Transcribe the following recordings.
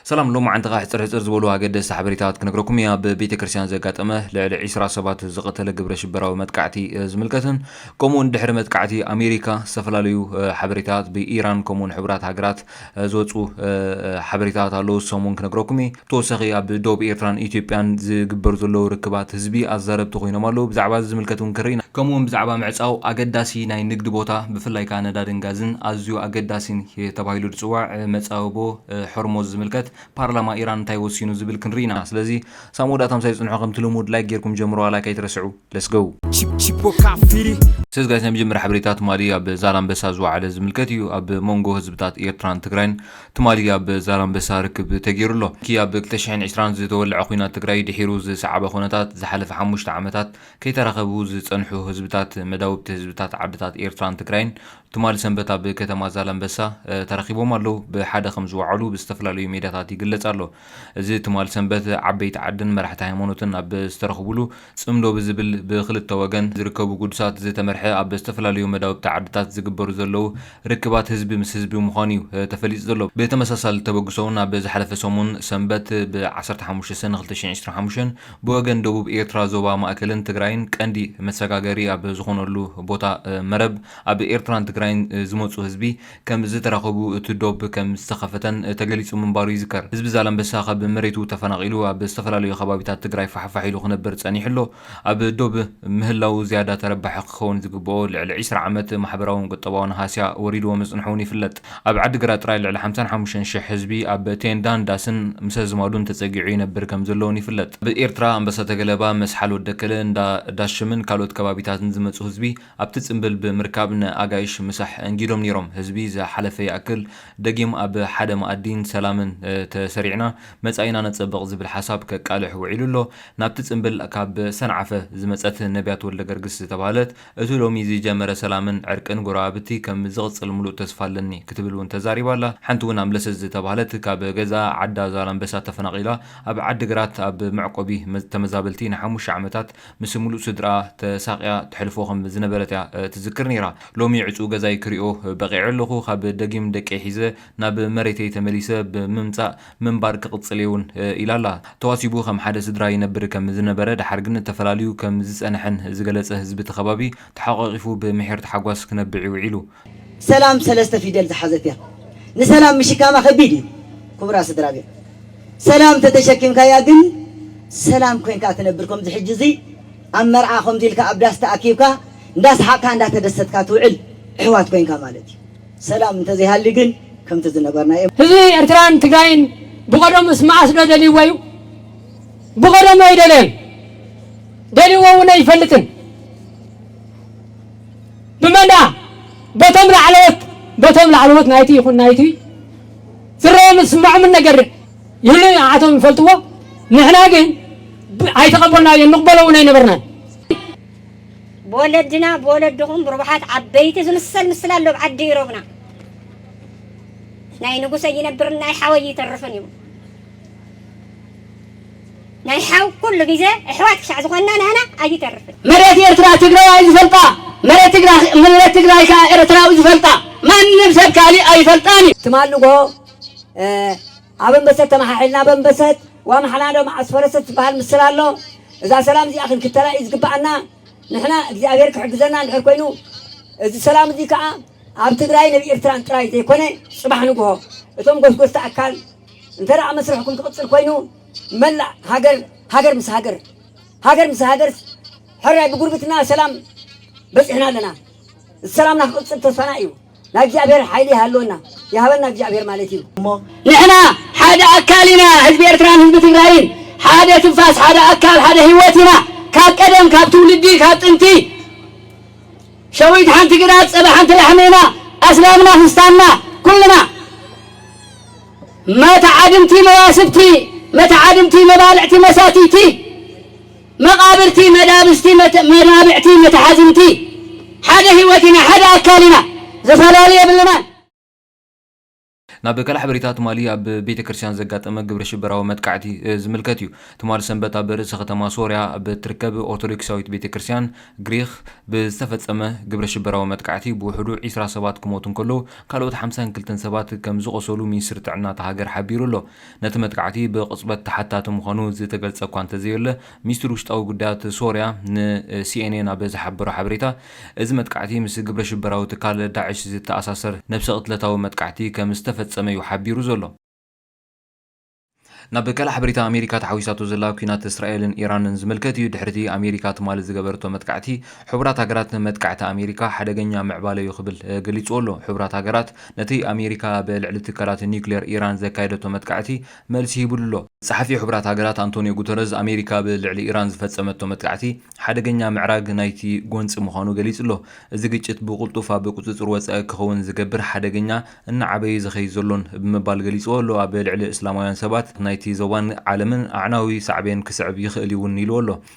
ሰላም ሎማዓንቲ ከኣ ሕጽር ሕጽር ዝበሉ ኣገደስቲ ሓበሬታታት ክነግረኩም እየ ኣብ ቤተክርስትያን ዘጋጠመ ልዕሊ ዒስራ ሰባት ዝቀተለ ግብረ ሽበራዊ መጥቃዕቲ ዝምልከትን ከምኡውን ድሕሪ መጥቃዕቲ ኣሜሪካ ዝተፈላለዩ ሓበሬታታት ብኢራን ከምኡውን ሕቡራት ሃገራት ዝወጹ ሓበሬታታት ኣለዉ እሶም እውን ክነግረኩም እየ ተወሳኺ ኣብ ዶብ ኤርትራን ኢትዮጵያን ዝግበሩ ዘለዉ ርክባት ህዝቢ ኣዛረብቲ ኮይኖም ኣለዉ ብዛዕባ እዚ ዝምልከት እውን ክንርኢ ኢና ከምኡውን ብዛዕባ ምዕጻው ኣገዳሲ ናይ ንግዲ ቦታ ብፍላይ ከኣ ነዳድን ጋዝን ኣዝዩ ኣገዳሲን ተባሂሉ ዝጽዋዕ መጻብቦ ሖርሞዝ ዝምልከት ፓርላማ ኢራን እንታይ ወሲኑ ዝብል ክንሪኢ ኢና ስለዚ ሳብ መወዳእታ ምሳይ ጽንሑ ከምቲ ልሙድ ላይክ ጌርኩም ጀምርዋ ላይክ ኣይትረስዑ let's go። ሰስ ጋይስ ናይ መጀመርያ ሓበሬታ ትማሊ ኣብ ዛላንበሳ ዝወዓለ ዝምልከት እዩ ኣብ ሞንጎ ህዝብታት ኤርትራን ትግራይን ትማሊ ኣብ ዛላንበሳ ርክብ ተጌሩ ኣሎ እቲ ኣብ ክልተ ሽሕን ዕስራን ዝተወለዐ ኩናት ትግራይ ድሒሩ ዝሰዓበ ኩነታት ዝሓለፈ ሓሙሽተ ዓመታት ከይተራኸቡ ዝጸንሑ ህዝብታት መዳውብቲ ህዝብታት ዓድታት ኤርትራን ትግራይን ትማሊ ሰንበት ኣብ ከተማ ዛላምበሳ ተረኺቦም ኣለዉ ብሓደ ከም ዝወዓሉ ብዝተፈላለዩ ሜድያታት ይግለጽ ኣሎ። እዚ ትማሊ ሰንበት ዓበይቲ ዓድን መራሕቲ ሃይማኖትን ኣብ ዝተረኽብሉ ጽምዶ ብዝብል ብኽልተ ወገን ዝርከቡ ግዱሳት ዝተመርሐ ኣብ ዝተፈላለዩ መዳውብቲ ዓድታት ዝግበሩ ዘለዉ ርክባት ህዝቢ ምስ ህዝቢ ምዃኑ'ዩ ተፈሊጡ ዘሎ። ብተመሳሳሊ ተበግሶ'ውን ኣብ ዝሓለፈ ሰሙን ሰንበት ብ ዓሰርተ ሓሙሽተ ሰነ ክልተ ሽሕን ዕስራን ሓሙሽተን ብወገን ደቡብ ኤርትራ ዞባ ማእከልን ትግራይን ቀንዲ መሰጋገሪ ኣብ ዝኾነሉ ቦታ መረብ ኣብ ኤርትራን ትግራይን ዝመጹ ህዝቢ ከም ዝተራኸቡ እቲ ዶብ ከም ዝተኸፈተን ተገሊጹ ምንባሩ ይዝከር። ህዝቢ ዛላምበሳ ካብ መሬቱ ተፈናቒሉ ኣብ ዝተፈላለዩ ከባቢታት ትግራይ ፋሕፋሕ ኢሉ ክነብር ጸኒሑ ኣሎ። ኣብ ዶብ ምህላዉ ዝያዳ ተረባሒ ክኸውን ዝግበኦ ልዕሊ ዕስራ ዓመት ማሕበራውን ቁጠባውን ሃስያ ወሪድዎ ምጽንሑ'ውን ይፍለጥ። ኣብ ዓዲግራት ጥራይ ልዕሊ ሓምሳን ሓሙሽተን ሽሕ ህዝቢ ኣብ ቴንዳን ዳስን ምስ ኣዝማዱን ተጸጊዑ ይነብር ከም ዘሎ'ውን ይፍለጥ። ኣብ ኤርትራ ኣምበሳ ተገለባ፣ መስሓል ወደከለ፣ እንዳ ዳሽምን ካልኦት ከባቢታትን ዝመጹ ህዝቢ፣ ኣብቲ ጽምብል ብምርካብ ንኣጋይሽ ምሳሕ ኣንጊዶም ነይሮም። ህዝቢ ዝሓለፈ ይኣክል፣ ደጊም ኣብ ሓደ መኣዲን ሰላምን ተሰሪዕና መጻኢና ነጸብቕ ዝብል ሓሳብ ከቃልሕ ውዒሉ ኣሎ። ናብቲ ጽምብል ካብ ሰንዓፈ ዝመጸት ነብያት ወልደገርግስ ዝተባህለት፣ እቲ ሎሚ ዝጀመረ ሰላምን ዕርቅን ጎረባብቲ ከም ዝቕጽል ምሉእ ተስፋ ኣለኒ ክትብል እውን ተዛሪባ ኣላ። ሓንቲ እውን ኣምለሰት ዝተባህለት ካብ ገዛኣ ዓዳ ዛላምበሳ ተፈናቒላ ኣብ ዓዲግራት ኣብ መዕቆቢ ተመዛበልቲ ንሓሙሽተ ዓመታት ምስ ምሉእ ስድርኣ ተሳቕያ ተሕልፎ ከም ዝነበረት እያ ትዝክር ነይራ። ሎሚ ዕጹው ገዛይ ክሪኦ በቒዐ ኣለኹ፣ ካብ ደጊም ደቀይ ሒዘ ናብ መሬተይ ተመሊሰ ብምምጻእ ምንባር ክቕጽል እየ'ውን ኢላ'ላ። ተዋሲቡ ከም ሓደ ስድራ ይነብር ከም ዝነበረ ደሓር ግን ተፈላልዩ ከም ዝጸንሐን ዝገለጸ ህዝቢ'ቲ ከባቢ ተሓቛቒፉ ብምሒር ታሕጓስ ክነብዕ'ዩ ውዒሉ። ሰላም ሰለስተ ፊደል ዝሓዘት እያ ንሰላም ምሽካማ ከቢድ እዩ ኩቡራት ስድራቤት ሰላም ተተሸኪምካያ ግን ሰላም ኮንካ ትነብር ከምዚ ሕጂ እዚ ኣብ መርዓ ከምዚ ኢልካ ኣብ ዳስ ተኣኪብካ እንዳስሓቅካ እንዳተደሰትካ ትውዕል እሕዋት ኮንካ ማለት እዩ ሰላም እንተዘይሃልዩ ግን ከምቲ ዝነበርናዮ ህዝቢ ኤርትራን ትግራይን ብቀደሙስ መኣስ ዶ ደልይዎ እዩ? ብቀደሙ ኣይደለየን ደልይዎ እውን ኣይፈልጥን። ብመንድኣ? በቶም ላዕለዎት፣ በቶም ላዕለዎት ናይቲ ይኹን ናይቲ ዝረኦምን ዝስመዖምን ነገር ይህሉ እዩ፣ ንዓኣቶም ይፈልጥዎ፣ ንሕና ግን ኣይተቐበልናዮን፣ ንቕበሎ እውን ኣይነበርናን። ብወለድና ብወለድኹም ብርቡሓት ዓበይቲ ዝምሰል ምስላ ኣሎ ኣብ ዓዲ ኢሮብና። ናይ ንጉሰይ ይነብርን ናይ ሓወይ ይተርፍን እዩ። ናይ ሓው ኩሉ ግዜ ኣሕዋት ክሻዕ ዝኾንና ናህና ኣይተርፍን። መሬት ኤርትራ ትግራዋይ ዝፈልጣ መሬት ትግራይ ከኣ ኤርትራዊ ዝፈልጣ ማንም ሰብ ካሊእ ኣይፈልጣን እዩ። ትማል ንግሆ ኣበምበሰት ተመሓሒልና ኣበምበሰት ዋምሓላዶ መዓስ ፈረሰት ዝበሃል ምስላ ኣሎ እዛ ሰላም እዚኣ ክንክተላ እዩ ዝግበኣና ንሕና እግዚኣብሔር ክሕግዘና እንድሕር ኮይኑ እዚ ሰላም እዚ ከኣ ኣብ ትግራይን ኣብ ኤርትራን ጥራይ ዘይኮነ ጽባሕ ንግሆ እቶም ጎስጎስቲ ኣካል እንተደኣ መስርሕኩም ክቕጽል ኮይኑ መላእ ሃገር ሃገር ምስ ሃገር ሃገር ምስ ሃገርስ ሕራይ ብጉርብትና ሰላም በጺሕና ኣለና። ሰላምና ክቕጽል ተስፋና እዩ። ናይ እግዚኣብሔር ሓይሊ ይሃልወና ይሃበና እግዚኣብሔር ማለት እዩ እሞ ንሕና ሓደ ኣካል ኢና ህዝቢ ኤርትራን ህዝቢ ትግራይን ሓደ ትንፋስ ሓደ ኣካል ሓደ ህይወት ኢና ካብ ቀደም ካብ ትውልዲ ካብ ጥንቲ ሸዊት ሓንቲ ግዳ ጸባ ሓንቲ ላሕሚ ኢና ኣስላምና ክስታንና ኩልና መታዓድምቲ መዋስብቲ መታዓድምቲ መባልዕቲ መሳትይቲ መቃብርቲ መዳብስቲ መናብዕቲ መታሓዝምቲ ሓደ ሂወት ኢና ሓደ ኣካል ኢና ዝፈላሊ የብልናን። ናብ ከላሕበሪታ ትማሊ ኣብ ቤተ ክርስቲያን ዘጋጠመ ግብረ ሽበራዊ መጥቃዕቲ ዝምልከት እዩ። ትማል ሰንበት ኣብ ርእሰ ከተማ ሶርያ ኣብ እትርከብ ኦርቶዶክሳዊት ቤተ ክርስቲያን ግሪኽ ብዝተፈጸመ ግብረ ሽበራዊ መጥቃዕቲ ብውሕዱ ዒስራ ሰባት ክሞቱ እንከለዉ ካልኦት ሓምሳን ክልተን ሰባት ከምዝቖሰሉ ሚኒስትሪ ጥዕና እታ ሃገር ሓቢሩ ኣሎ። ነቲ መጥቃዕቲ ብቕጽበት ተሓታቲ ምዃኑ ዝተገልጸ እኳ እንተዘየለ፣ ሚኒስትሪ ውሽጣዊ ጉዳያት ሶርያ ንሲኤንኤን ኣብ ዝሓበሮ ሓበሬታ፣ እዚ መጥቃዕቲ ምስ ግብረሽበራዊ ትካል ዳዕሽ ዝተኣሳሰር ነብሰ-ቅትለታዊ መጥቃዕቲ ከም ዝተፈጸመ'ዩ ሓቢሩ ዘሎ። ናብ ካልእ ሓበሬታ ኣሜሪካ ተሓዊሳቶ ዘላ ኲናት እስራኤልን ኢራንን ዝምልከት'ዩ። ድሕሪ'ቲ ኣሜሪካ ትማሊ ዝገበረቶ መጥቃዕቲ፣ ሕቡራት ሃገራት መጥቃዕቲ ኣሜሪካ ሓደገኛ ምዕባለ'ዩ ክብል ገሊጹዎ'ሎ። ሕቡራት ሃገራት ነቲ ኣሜሪካ ኣብ ልዕሊ ትካላት ኒዩክሌር ኢራን ዘካየደቶ መጥቃዕቲ መልሲ ሂቡሉ'ሎ። ጸሓፊ ሕቡራት ሃገራት ኣንቶንዮ ጉተረዝ፣ ኣሜሪካ ኣብ ልዕሊ ኢራን ዝፈጸመቶ መጥቃዕቲ፣ ሓደገኛ ምዕራግ ናይቲ ጎንጺ ምዃኑ ገሊጹ'ሎ። እዚ ግጭት ብቕልጡፍ ኣብ ቁጽጽር ወጻኢ ክኸውን ዝገብር ሓደገኛ፣ እናዓበየ ዝኸይድ ዘሎን ብምባል ገሊጽዎ'ሎ። ኣብ ልዕሊ እስላማውያን ሰባት ናይቲ ዞባን ዓለምን ኣዕናዊ ሳዕቤን ክስዕብ ይኽእል'ዩ'ውን ኢልዎ'ሎ።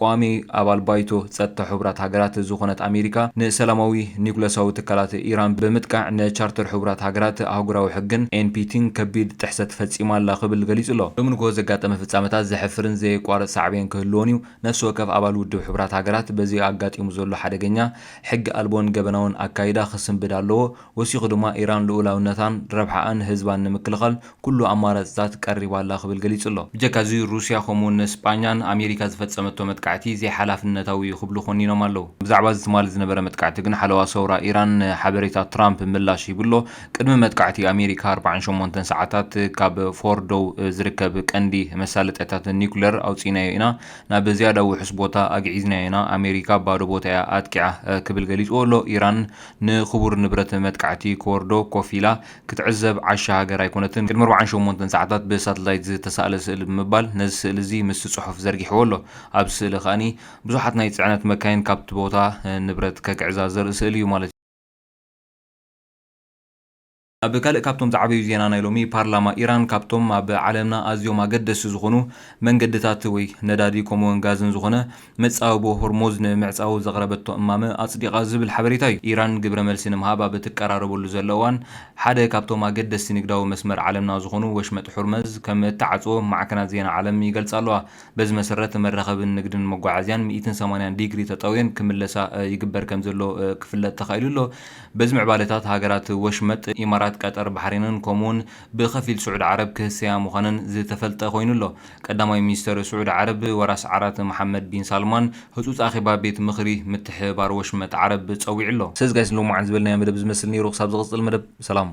ቋሚ ኣባል ባይቶ ጸጥታ ሕቡራት ሃገራት ዝኾነት ኣሜሪካ፣ ንሰላማዊ ኒዩክለሳዊ ትካላት ኢራን ብምጥቃዕ ንቻርተር ሕቡራት ሃገራት፣ ኣህጉራዊ ሕግን ኤንፒቲን ከቢድ ጥሕሰት ፈጺማ ኣላ ክብል ገሊጹ'ሎ። ሎሚ ንግሆ ዘጋጠመ ፍጻመታት ዘሕፍርን ዘየቋርጽ ሳዕቤን ክህልዎን'ዩ፣ ነፍሲ ወከፍ ኣባል ውድብ ሕቡራት ሃገራት በዚ ኣጋጢሙ ዘሎ ሓደገኛ፣ ሕጊ ኣልቦን ገበናውን ኣካይዳ ክስንብድ ኣለዎ፣ ወሲኹ ድማ ኢራን ልኡላውነታን ረብሓኣን ህዝባን ንምክልኻል ኩሉ ኣማራጺታት ቀሪባ ኣላ ክብል ገሊጹ'ሎ። ብጀካ'ዚ ሩስያ ከምኡ'ውን ንስጳኛ ን ኣሜሪካ ዝፈጸመቶ መጥቃዕቲ ዘይሓላፍነታዊ'ዩ ክብሉ ኮኒኖም ኣለው። ብዛዕባ'ዚ ትማሊ ዝነበረ መጥቃዕቲ ግን ሓለዋ ሰውራ ኢራን ንሓበሬታ ትራምፕ ምላሽ ሂቡ'ሎ። ቅድሚ መጥቃዕቲ ኣሜሪካ ኣርብዓን ሸሞንተን ሰዓታት ካብ ፎርዶው ዝርከብ ቀንዲ መሳለጥያታት ኒኩለር ኣውጺእናዮ ኢና፣ ናብ ዝያዳ ውሑስ ቦታ ኣግዒዝናዮ ኢና፣ ኣሜሪካ ባዶ ቦታ'ያ ኣጥቂዓ ክብል ገሊጹዎ'ሎ። ኢራን ንክቡር ንብረት መጥቃዕቲ ኮርዶ ኮፍ ኢላ ክትዕዘብ ዓሻ ሃገር ኣይኮነትን። ቅድሚ ኣርብዓን ሸሞንተን ሰዓታት ብሳትላይት ዝተሳእለ ስእሊ ብምባል ነዚ ስእሊ እዚ ምስቲ ጽሑፍ ዘርጊሕዎ ኣሎ። ኣብዚ ስእሊ ከኣ ብዙሓት ናይ ጽዕነት መካይን ካብቲ ቦታ ንብረት ከግዕዛ ዘርኢ ስእሊ እዩ ማለት እዩ። ኣብ ካልእ ካብቶም ዝዓበዩ ዜና ናይ ሎሚ፣ ፓርላማ ኢራን ካብቶም ኣብ ዓለምና ኣዝዮም ኣገደስቲ ዝኾኑ መንገድታት ወይ ነዳዲ ከምኡ'ውን ጋዝን ዝኾነ መጻብቦ ሆርሞዝ ንምምዕጻው ዘቕረበቶ እማመ ኣጽዲቓ ዝብል ሓበሬታ እዩ። ኢራን ግብረ መልሲ ንምሃብ ኣብ እትቀራረበሉ ዘለ እዋን፣ ሓደ ካብቶም ኣገደስቲ ንግዳዊ መስመር ዓለምና ዝኾኑ ወሽመጥ ሑርመዝ ከም እትዓጽዎ ማዕከናት ዜና ዓለም ይገልጻ ኣለዋ። በዚ መሰረት መራኸብን ንግድን መጓዓዝያን ሚእትን ሰማንያን ዲግሪ ተጠውየን ክምለሳ ይግበር ከም ዘሎ ክፍለጥ ተኻኢሉ ኣሎ። በዚ ምዕባለታት ሃገራት ወሽመጥ፣ ኢማራት፣ ቀጠር፣ ባሕሬንን ከምኡ'ውን ብኸፊል ስዑድ ዓረብ ክህሰያ ምዃነን ዝተፈልጠ ኮይኑ ኣሎ። ቀዳማይ ሚኒስተር ስዑዲ ዓረብ ወራስ ዓራት መሓመድ ቢን ሳልማን ህጹጽ ኣኼባ ቤት ምኽሪ ምትሕብባር ወሽመጥ ዓረብ ጸዊዑ'ሎ። ሰዚ ጋይስ ሎሚ መዓልቲ ዝበልናዮ መደብ እዚ ዝመስል ኔሩ ክሳብ ዝቕጽል መደብ ሰላም።